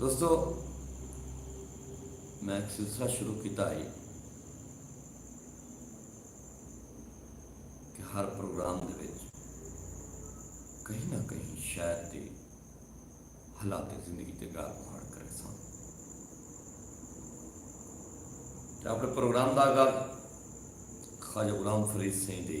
دوستو میں ایک سلسلہ شروع کیتا ہے کہ ہر پروگرام دے وچ کہیں نہ کہیں شہر دے حالات زندگی تے گال مہاڑ کرے سن اپنے پروگرام دا آغاز خواجہ غلام فرید سائیں دے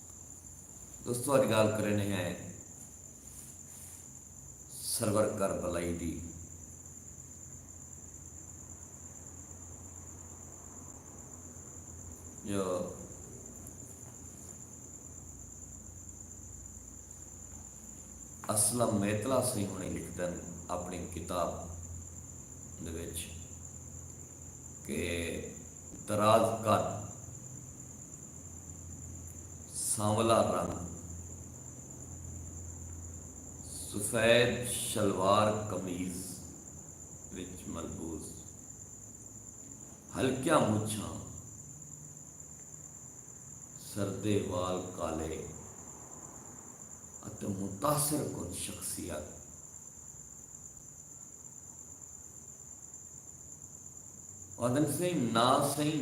دوستو اج گالھ کرینے ہیں سرور کربلائی دی جو اسلم میتلا سنگھ ہونی لکھدن اپنی کتاب دے وچ کہ دراز قد، سانولا رنگ، سفید شلوار قمیض وچ ملبوس، ہلکیاں مچھاں، سردے وال کالے اتے متاثر کن شخصیت۔ آدھن سئیں نہ سئیں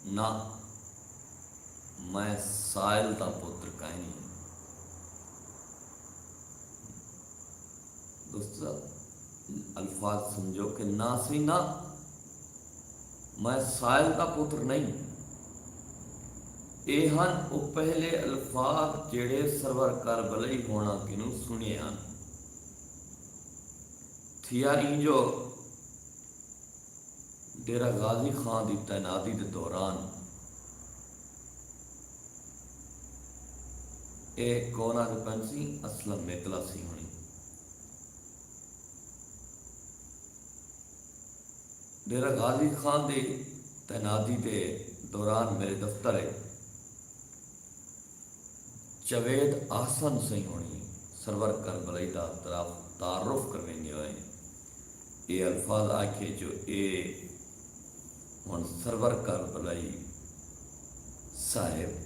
نہ میں سائل دا پتر کائنی ہاں۔ دوست صاحب الفاظ سمجھو کہ نہ سئیں نہ میں سائل دا پتر نہیں اے ہن او پہلے الفاظ جیڑھے سرور کربلئی ہونا کنوں سنیے ہن۔ تھیا ایں جو ڈیرہ غازی خاں دی تعیناتی دے دوران اے کون آکھ پنسی اسلم میتلا سی ہنی ڈیرہ غازی خاں دی تعیناتی دے دوران میرے دفتر اے جاوید احسن سئیں ہوݨیں سرور کربلائی دا تعارف کرویندیں ہوئیں اے الفاظ آکھئے جو اے ہݨ سرور کربلائی صاحب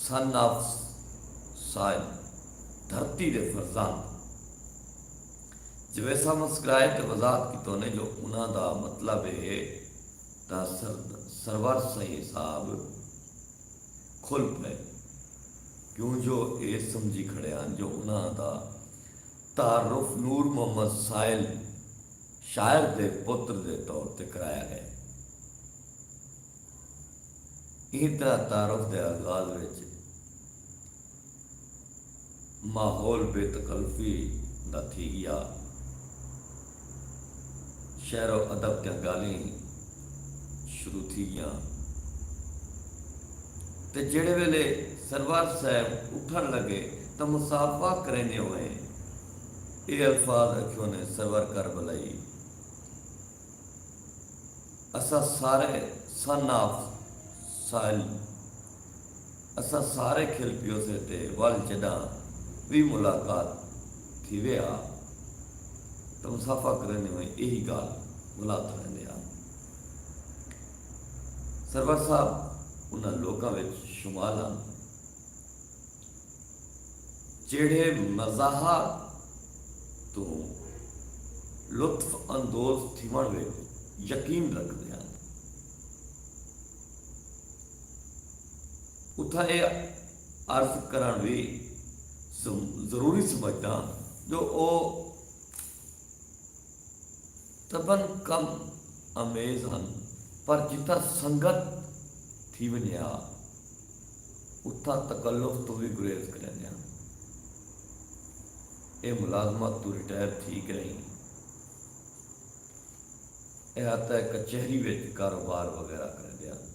Son of Soil دھرتی دے فرزند جاوید صاحب مسکرائے تے وضاحت کیتونے جو انہاں دا مطلب اے ہے۔ تاں سرور سئیں صاحب کھل پئے کیوں جو اے سمجھی کھڑے ہن جو انہاں دا تعارف نور محمد سائل شاعر دے پتر دے طور تے کرایا ہے۔ ایں طرح تعارف دے آغاز وچ۔ ماحول بے تکلفی دا تھی ڳیا۔ شعر و ادب دیاں ڳالھیں شروع تھی ڳیاں تے جیڑھے ویلے سرور صاحب اٹھݨ لڳے تاں مصافحہ کریندیں ہوئیں اے الفاظ اکھیوں نے سرور کربلائی اساں سارے سن آف سوائل اساں سارے کھل پیوسے تے ول جڈاں وی ملاقات تھیوے ہا تاں مصافحہ کریندے ہوئیں ایہی گالھ بھلا کھڑیندے ہا۔ سرور صاحب انہاں لوکاں وچ شمال ہن جیڑھے مزاحہ توں لطف اندوز تھیوݨ وچ یقین رکھدے ہن۔ اتھاں ایہ عرض کرݨ وی ضروری سمجھداں جو او طبعن کم آمیز ہن پر جتھاں سنگت تھی ونڄے ہا اتھاں تکلف توں وی گریز کریندے ہن۔ ایہ ملازمت توں ریٹائر تھی ڳئین۔ احاطہ کچہری وچ کاروبار وغیرہ کریندے ہن۔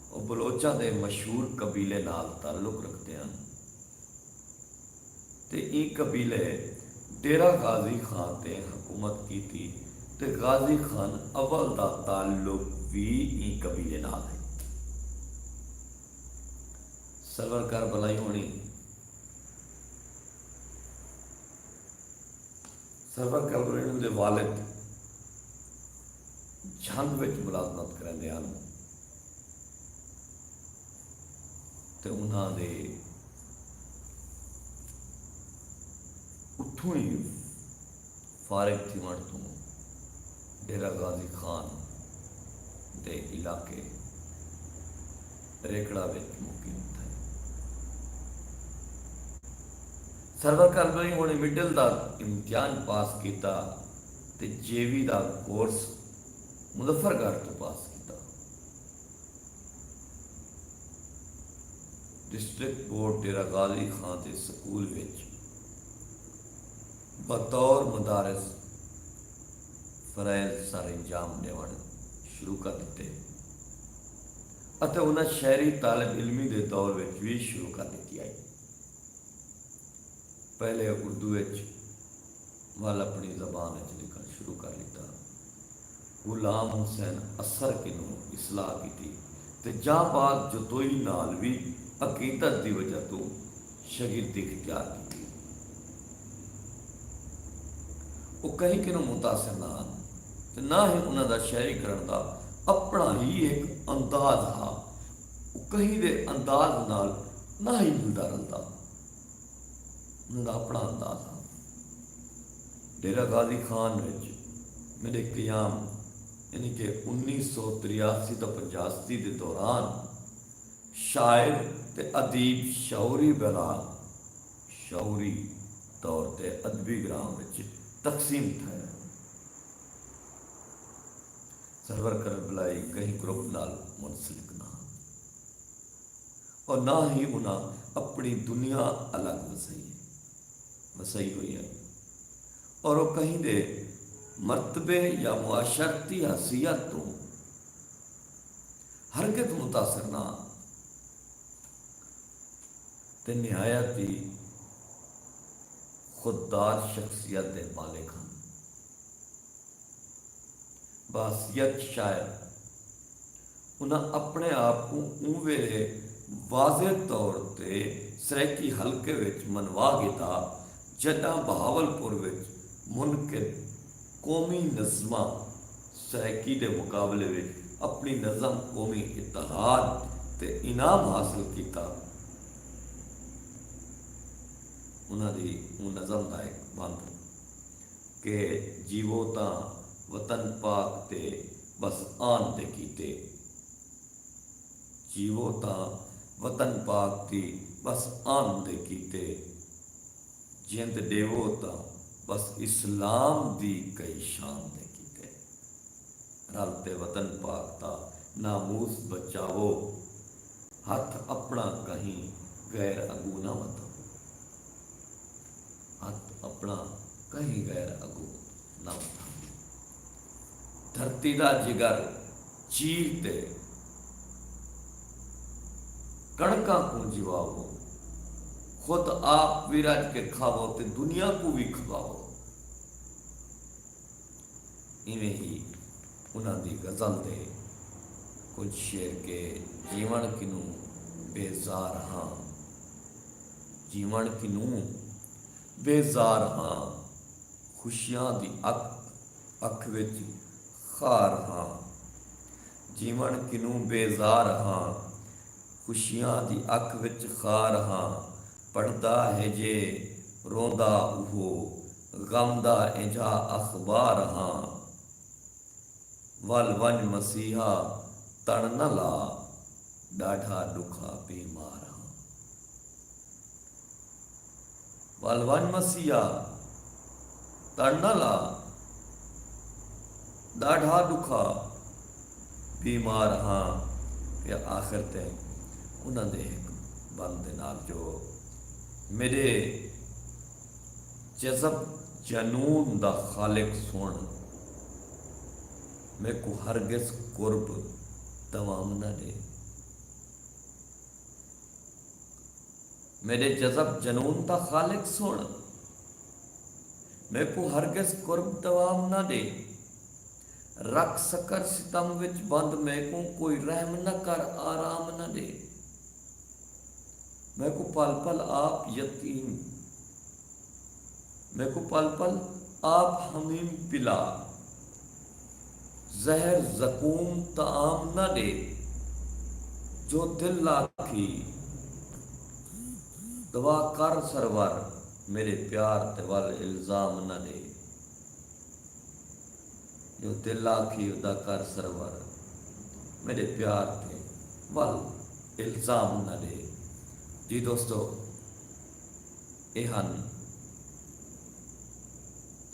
او بلوچاں دے مشہور قبیلے نال تعلق رکھدے ہن تے ایں قبیلے ڈیرہ غازی خان تے حکومت کیتی تے غازی خان اول دا تعلق وی ایں قبیلے نال ہئی۔ سرور کر بلائی ہونی۔ سرور کیمرون دے والد جھنگ وچ ملازمت کریندے ہن تے انہاں دے اتھوں ہی فارغ تھیوݨ توں ڈیرہ غازی خان دے علاقے ریکڑہ وچ مقیم تھئے۔ سرور کردوں ہی انہیں مڈل دا امتحان پاس کیتا تے جے وی دا کورس مظفر گڑھ توں پاس کیتا۔ ڈسٹرکٹ بورڈ ڈیرہ غازی خاں دے سکول وچ بطور مدرس فرائض سر انجام ڈیونڑ شروع کر ڈتے اتے انہاں شہری طالب علمی دے دور وچ وی شروع کر ڈتی ہئی۔ پہلے اردو اچ ول اپنڑی زبان اچ لکھنڑ شروع کر ڈتا۔ غلام حسین اثر کنوں اصلاح کیتی تے جاں بعد جتوئی نال وی عقیدت دی وجہ توں شگردی اختیار کیتی۔ او کہیں کنوں متاثر نہ ہن تے نہ ہی انہاں دا شاعری کرنڑ دا اپنڑا ہی ہک انداز ہا۔ او کہیں دے انداز نال نہ ہئی ملدا رلدا۔ انہاں دا اپݨا انداز ہا۔ ڈیرہ غازی خان وچ میݙے قیام یعنی کہ انیس سو تریاسی تاں پنجاسی دے دوران شاعر تے ادیب شعوری بلا شعوری طور تے ادبی گراں وچ تقسیم تھئے۔ سرور کنوں بلائی کہیں گروپ نال منسلک نہ ہن اور نہ ہی انہاں اپنی دنیا الگ وسائی ہے وسائی ہوئی ہے اور او کہیں دے مرتبے یا معاشرتی حیثیت تو ہرگز متاثر نہ ہن تے نہایت ہی خوددار شخصیت دے مالک ہن بحثیت شاعر انہاں اپݨے آپ کوں اوں ویلے واضح طور تے سرائیکی حلقے وچ منوا گھدا جݙاں بہاولپور وچ منعقد قومی نظمہ سرائیکی دے مقابلے وچ اپݨی نظم قومی اتحاد تے انعام حاصل کیتا۔ انہاں دی اوں نظم دا ہک بند۔ کہ جیوو تاں وطن پاک تے بس آن تے کیتے۔ جیوو تاں وطن پاک دی بس آن تے کیتے۔ جند ڈیوو تاں بس اسلام دی کئی شان تے کیتے۔ رل تے وطن پاک دا ناموس بچاوو۔ ہتھ اپنڑاں کہیں غیر اگوں نہ ودھاوو۔ ہتھ اپݨا کہیں غیر اڳوں نہ ودھاندی۔ دھرتی دا جگر چیر تے کݨکاں کوں جیواوو، خود آپ وی رڄ کے کھاوو تے دنیا کوں وی کھواوو۔ ایویں ہی انہاں دی غزل دے کجھ شعر کہ جیوݨ کنوں بیزار ہاں۔ جیوݨ کنوں بیزار ہاں۔ خوشیاں دی اک اکھ وچ خار ہاں۔ جیوݨ کنوں بیزار ہاں۔ خوشیاں دی اکھ وچ خار ہاں۔ پڑھدا ہے جے روندا اوہو غم دا اینجھا اخبار ہاں۔ ول ونڄ مسیحا تݨ نہ لا ݙاڈھا ݙکھا بیمار ہاں۔ ول ونڄ مسیحا تݨ نہ لا ݙاڈھا ݙکھا بیمار ہاں تے آخر تے انہاں دے ہک بند دے نال جو میݙے جذب جنون دا خالق سݨ میکوں ہرگز قرب دوام نہ ݙے میݙے جذب جنون دا خالق سݨ میکوں ہرگز قرب دوام نہ ݙے رکھ سکر ستم وچ بند میکوں کوئی رحم نہ کر آرام نہ ݙے میکوں پل پل آپ یتیم میکوں پل پل آپ حمیم پلا زہر زقوم طعام نہ ݙے جو دل لا تھی دوا کر سرور میݙے پیار تے ول الزام نہ ݙے۔ جو دل آکھی ادا کر سرور میڈے پیار تے ول الزام نہ ڈے جی دوستو اے ہن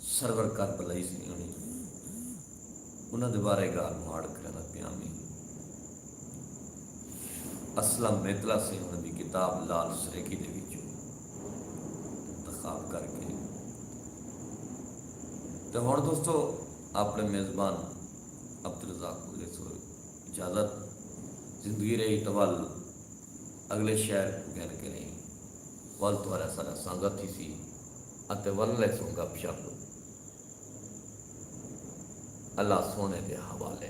سرور کربلائی سنگھڑی انہاں دے بارے گال مہاڑ کرندا پیاں میں اسلم میتلا سنگھڑ دی کتاب لال سریکی دے وچوں انتخاب کر کے تے ہن دوستو اپنے میزبان عبدالرزاق کوں ڈیسو اجازت زندگی رہی تول اگلے شہر کوں گھن کے رہی ول تہاڈا سارا سانگت تھی سی اتے ول لے سوں گپ شپ اللہ سونے دے حوالے۔